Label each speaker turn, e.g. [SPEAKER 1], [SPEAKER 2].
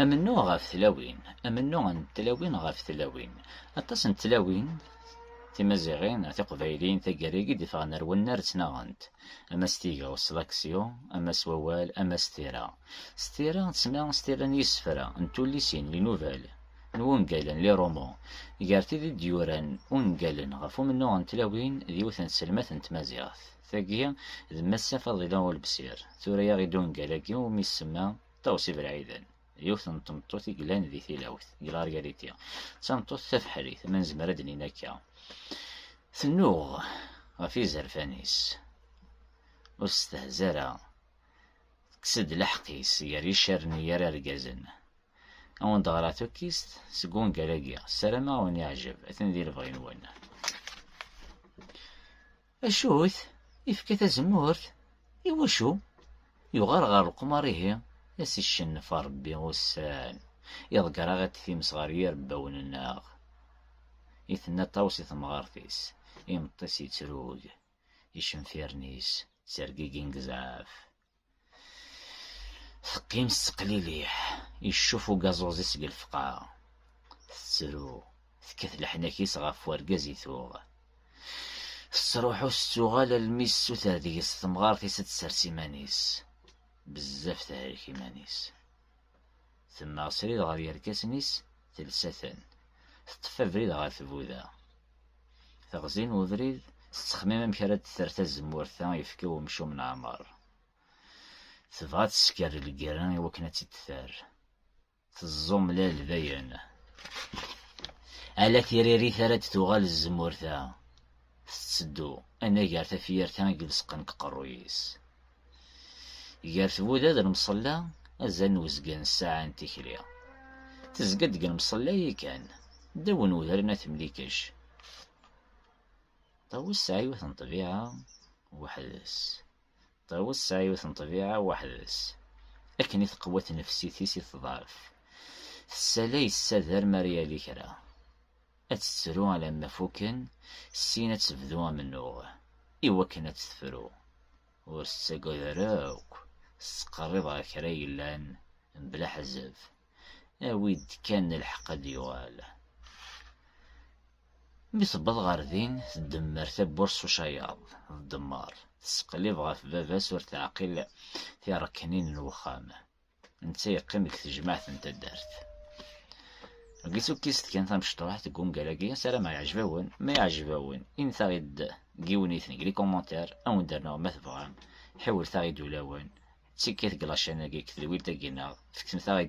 [SPEAKER 1] Amennuɣ ɣef tlawin, amennuɣ n tlawin ɣef tlawin. Aṭas n tlawin timaziɣin, tiqbayliyin taggara-agi d-iffɣen ar wannar ttnaɣent, ama s tigawt, s laksyu, ama s wawal, ama s tira. S tira, tesma s tira n yisefra, n tullisin, n yinubal, n wungalen, les romans. Gar tid i d-yuran ungalen ɣef umennuɣ n tlawin d yiwet n tselmat n tmaziɣt. Tagi d Massa Faḍila Ulebsir, tura-yaɣ-id ungal-agi umi isemma, Tawsi Belɛiden, yiwet n tmeṭṭut i yellan di tilawt, deg Largariti. D tameṭṭut tabeḥrit, ma nezmer ad d-nini akka. Tennuɣ ɣef yizerfan-is, ur testehza ara, tekkes-d leḥq-is gar yicaren i yar argazen. Ad wen-d-ɣreɣ tukkist seg wungal-agi, ssarameɣ ad wen-yeɛjeb, atan di lebɣi-nwen. Acu-t? Ifka tazemmurt? Iwacu? Yuɣal ɣer leqmar ihi, a s-icennef Ṛebbi ussan, iḍegger-aɣ-id times ɣer yirebbawen-nneɣ. I tenna Ṭawes i temɣart-is, imeṭṭi-s yettrug, icenfiren-is ttergigin deg zzɛaf. Teqqim tettqliliḥ, iccuf ugaẓuẓ-is deg lefqa. Tettru, tekkat leḥnak-is ɣef urgaz i tuɣ. Tettruḥu tettuɣal almi tessuter deg-s temɣart-is ad tsers iman-is. Bezzaf tehrek iman-is. Temmeɣ srid ɣer yerkasen-is, telsa-ten. Teṭṭef abrid ɣer tbuda. Teɣzi n ubrid, tettexmim amek ara d-terr tazemmurt-a yefka umcum n Ɛmer. Tebɣa ad tesker lgerra i wakken ad tt-id-terr. Teẓẓumlal dayen. Ala tiririt ara d-tuɣal tzemmurt-a. Tetteddu anagar tafyirt-a i ileṣqen deg uqerruy-is. Gar tbuda d lemṣella, azal n uzgen n ssaɛa n tikli. Tezga-d deg lemṣella yakan, ddaw n udren At Mlikec. Ṭawes tesɛa yiwet n ṭṭbiɛa weḥd-s. Ṭawes tesɛa yiwet n ṭṭbiɛa weḥd-s. Akken i teqwa tnefsit-is i teḍɛef. Tessalay ssader mi ara yali kra. Ad tettru alamma fukken, syin ad tebdu amennuɣ. I wakken ad tt-tefru, ur tettagad ara akk, tettqerrib ɣer kra yellan, mebla aḥezzeb. Awi-d kan lḥeqq ad d-yuɣal. Mi tewweḍ ɣer din, tdemmer tawwurt s ucayaḍ d ddemmer, tesseqlib ɣef baba-s ur teɛqil tiṛeknin n wexxam. Netta yeqqim deg tejmaɛt n taddart. Deg tukkist kan tamecṭuḥt deg ungal-agi, sarameɣ yeɛjeb-awen, ma yeɛjeb-awen, intaɣ-id deg yiwenniten deg likomantar, ad wen-d-rnuɣ ma tebɣam, ḥiwlet-aɣ-id ulawen, d tikkit deg lačan-agi deg tedwilt-agi-nneɣ, feksemt-aɣ-id